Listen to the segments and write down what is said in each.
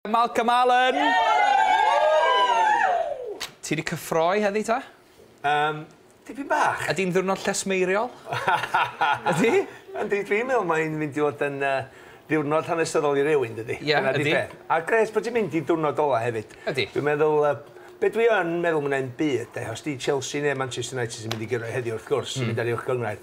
Malcolm Allen! Ti wedi cyffroi heddi ta? Yym, tipyn bach. Ydi'n ddiwrnod llesmeiriol? Ydi? Yndi, dwi'n meddwl mae'n mynd i fod yn yy ddiwrnod hanesyddol i rywun, dydi? Ie, ydi. A grêt bod ti'n mynd i diwrnod ola hefyd. Ydi. Dwi'n meddwl yy be dwi yn meddwl ma' 'na un byd de, os 'di Chelsea neu Manchester United sy'n mynd i gyrraedd heddiw wrth gwrs, sy'n mynd ar uwch gynghrair.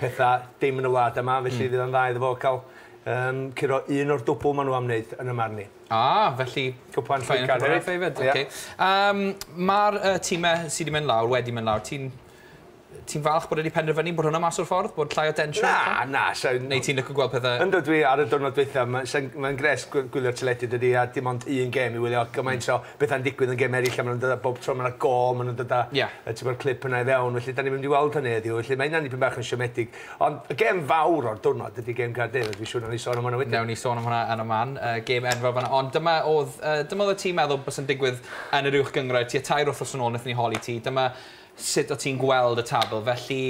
petha dim yn y wlad yma, felly fydd o'n dda iddo fo ca'l yym curo un o'r dwbwl ma' nw am neud yn 'y marn i. Ah, felly cwpan Cwpan Cwpan Cwpan Cwpan. Ocê. Yym ma'r yy time sy 'di mynd lawr wedi mynd lawr ti'n ti'n falch bod e 'di penderfynu bod hwnna mas o'r ffordd bod llai o densiwn? Na na sai'n... Neu ti'n lico gweld pethe... Yndw dwi ar y diwrnod dwetha ma' sai'n mae'n grêt gw- gwylio'r teledu dydi a dim ond un gêm i wylio gymaint o betha'n digwydd yn gem eraill a maen nhw'n dod â... bob tro mae 'na gôl maen nhw'n dod â... Ie. ...yy tibod y clip yna i fewn felly dan ni'n mynd i weld hynny heddiw felly mae hynna'n dipyn bach yn siomedig ond y gem fawr o'r diwrnod ydi gem Gaerdydd a dwi'n siŵr wnawn ni sôn am hwnna wedyn. Wnawn ni sôn am hwnna yn y man, yy gem enfawr fan'na ond dyma oedd yy dyma oeddet ti'n meddwl bysa'n digwydd yn yr Uwch Gynghrair tua tair wythnos yn ôl wnaethon ni holi ti dyma sut o't ti'n gweld y tabl felly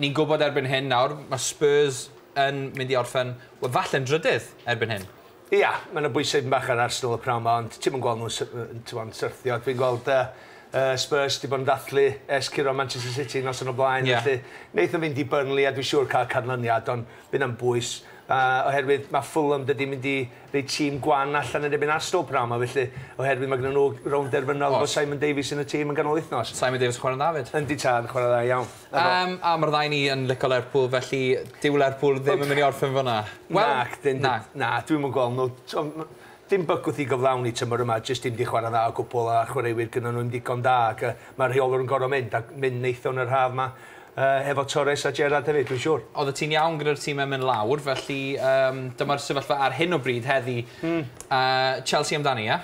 ni'n gwybod erbyn hyn nawr ma' Spurs yn mynd i orffen wel falle'n drydydd erbyn hyn. Ia, mae 'na bwysau dipyn bach ar Arsenal y pnawn 'ma ond ti'm yn gweld nhw'n sy- yy t'mo' yn syrthio. Dwi'n gweld yy yy Spurs 'di bod yn dathlu ers curo Manchester City noson o blaen Ie. felly neith o fynd i Burnley a dwi siŵr ca'l canlyniad ond by' 'na'm bwys yy oherwydd ma' Fulham dydi mynd i roi tîm gwan allan yn erbyn Arsenal pnawn 'ma felly oherwydd ma' gynnon nhw rownd derfynol efo Simon Davies yn y tîm yn ganol wythnos. Simon Davies yn chwarae'n dda 'fyd. Yndi tad, chwarae dda iawn. Yym a ma'r ddau ni yn lico Lerpwl felly dyw Lerpwl ddim yn myn' i orffen fynna. Wel... Nac 'dyn. Na. Na dwi'm yn gwel' n'w t'o' ma' dim bygwth i gyflawni tymor yma jyst dim 'di chwara dda o gwbwl a'r chwaraewyr gynno n'w 'im digon da ac yy ma'r rheolwr yn gor'o' mynd a mynd neithiwr yn yr haf 'ma yy efo Torres a Gerrard hefyd dwi'n siŵr. Oddet ti'n iawn gyda'r time myn' lawr felly yym dyma'r sefyllfa ar hyn o bryd heddi. Hmm. Yy Chelsea amdani ia?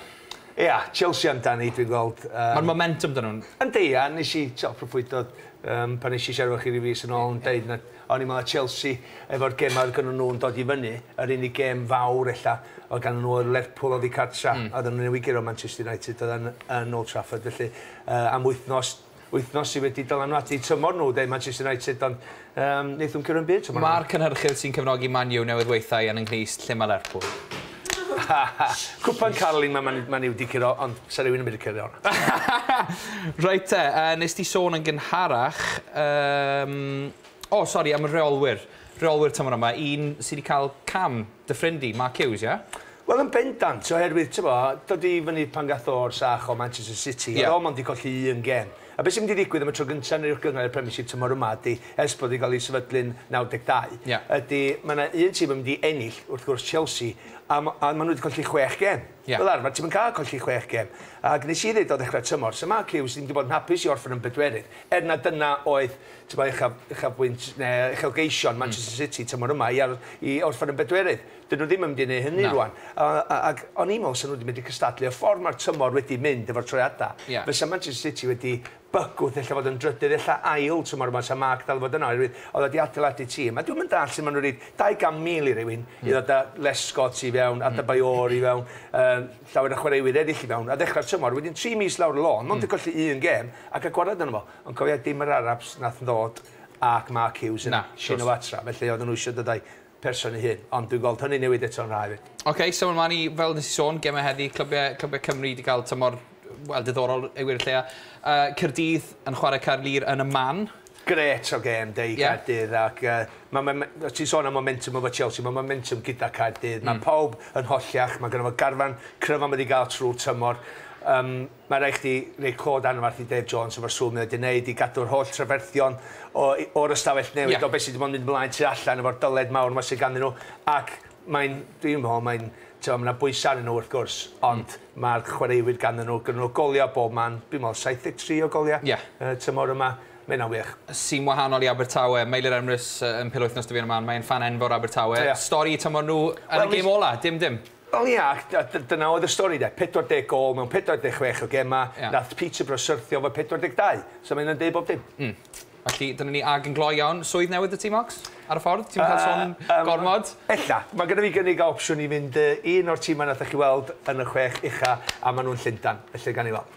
Ia, Chelsea amdani, dwi'n gweld. Mae'r momentum 'da nhw. Yndi, a wnes i, tibod, proffwydo yym pan wnes i siarad efo chi ryw fis yn ôl yn deud na, o'n i'n meddwl oedd Chelsea, efo'r gemau oedd gennyn nhw'n dod i fyny, yr unig gem fawr ella oedd gennyn nhw oedd Lerpwl oddi cartra', oedden nhw'n newydd guro Manchester United, oedden yn Old Trafford, felly yy am wythnos, wythnos sy wedi dylanwadu tymor nhw, dweud Manchester United, ond um, wnaethon cyrraedd byd tymor nhw. Mae'r cynhyrchydd sy'n cefnogi Man U newydd weithiau yn ynghys lle mae Lerpwl. Cwpan Carolyn mae Man, Man U wedi cyrro, ond sa rhywun yn mynd i cyrro hwnna. Rhaid te, uh, nes ti sôn yn gynharach, um, O, sori, am y rheolwyr. Rheolwyr tymor yma, un sydd wedi cael cam, dy ffrind di, Mark Hughes, ie? Wel, yn bendant, oherwydd, tibod, dod i fyny pan gath o'r sach o Manchester City, oedd o mond wedi colli un gêm. A beth sy'n mynd i ddigwydd am y tro gyntaf yn yr Uwchgyngor a'r Premiership tymor yma ydy, ers bod wedi cael ei sefydlu'n 92, ydy, mae yna un tîm yn mynd i ennill, wrth gwrs, Chelsea, a maen nhw wedi colli chwech gêm. Fel arfer, ti'm yn cael colli chwech gêm. Ac wnes i ddeud o ddechrau'r tymor, 'sa Mark Hughes ddim wedi bod yn hapus i orffen yn bedwerydd, er na dyna oedd Tybed uchaf, uchafbwynt neu uchelgeision hmm. Manchester City tymor yma i, ar, i orffen yn bedwerydd. Dyn nhw ddim yn mynd i wneud hynny no. rwan. Ac o'n i'n meddwl sy'n nhw wedi mynd i cystadlu. Y ffordd mae'r tymor wedi mynd efo'r troiadau, yeah. fysa Manchester City wedi bygwth efallai fod yn drydydd, efallai ail tymor yma, sa Mark dal fod yna, oherwydd oedd wedi adeiladu tîm. A dwi'n mynd all sy'n maen nhw'n rhaid 200,000 i rywun, mm. i ddod â Les Scott i fewn, a Dybaio'r hmm. i fewn, um, llawer o chwaraewyr eraill i fewn, a ddechrau'r tymor, wedyn 3 mis lawr y lôn, mond mm. yn colli un gem, ac a gwared yn fo. Ond cofia dim yr Arabs nath ddod ac Mark Hughes yn Llun o Fatra felly odden nhw isio dod a'i person ei hun ond dwi'n gweld hynny'n newid eto'n rha efyd. Ok, syml mlan i, fel nes i sôn, gemau heddi, clybiau clybiau Cymru 'di cael tymor, wel, diddorol i wir y lleia. Yy Caerdydd yn chwarae Caerlŷr yn y man. Grêt o gêm 'de i Gaerdydd ac yy ma' ma' ma' o' ti'n sôn am momentum efo Chelsea ma' momentum gyda Caerdydd ma' pawb yn hollach ma' gynno fo garfan cryf am wedi ga'l trw'r tymor yym Mae rhaid chdi roi cod anferth i Dave Jones efo'r swm mae o 'di neud i gadw'r holl trafferthion o- i- o'r ystafell newid Ie. o be' sy' 'di bod yn mynd mlaen tu allan efo'r dyled mawr 'ma sy' ganddyn nhw ac mae'n dwi'n me'wl mae'n t'mo' ma' 'na bwysa arnyn nhw wrth gwrs ond ma'r chwaraewyr ganddyn nhw gynnon nhw golia' bob man dwi'n me'wl saith deg tri o golia'... Ie. ...y tymor yma ma' hynna'n wych. Sy'n wahanol i Abertawe. Meilir Emrys yy yn pil wythnos 'da fi yn y man mae e'n ffan enfawr Abertawe. Ie. Stori tymor nhw yn y gêm ola dim dim. Wel ia, ac a- d- dyna oedd y stori de, 40 gôl mewn 46 o gemau, Ia. nath Peterborough syrthio efo 42, so ma' hynna'n deud bob dim. Mm. Felly, dyna ni, ag yn gloi iawn, swydd newydd 'da ti, Marks? Ar y ffordd? Ti'm yn cael son Yy, yym, gormod? ella. Ma' gynna fi gynnig a opsiwn i fynd yy i un o'r timau nathoch chi weld yn y chwech ucha, a ma' nhw'n Llundan, felly gawn ni weld.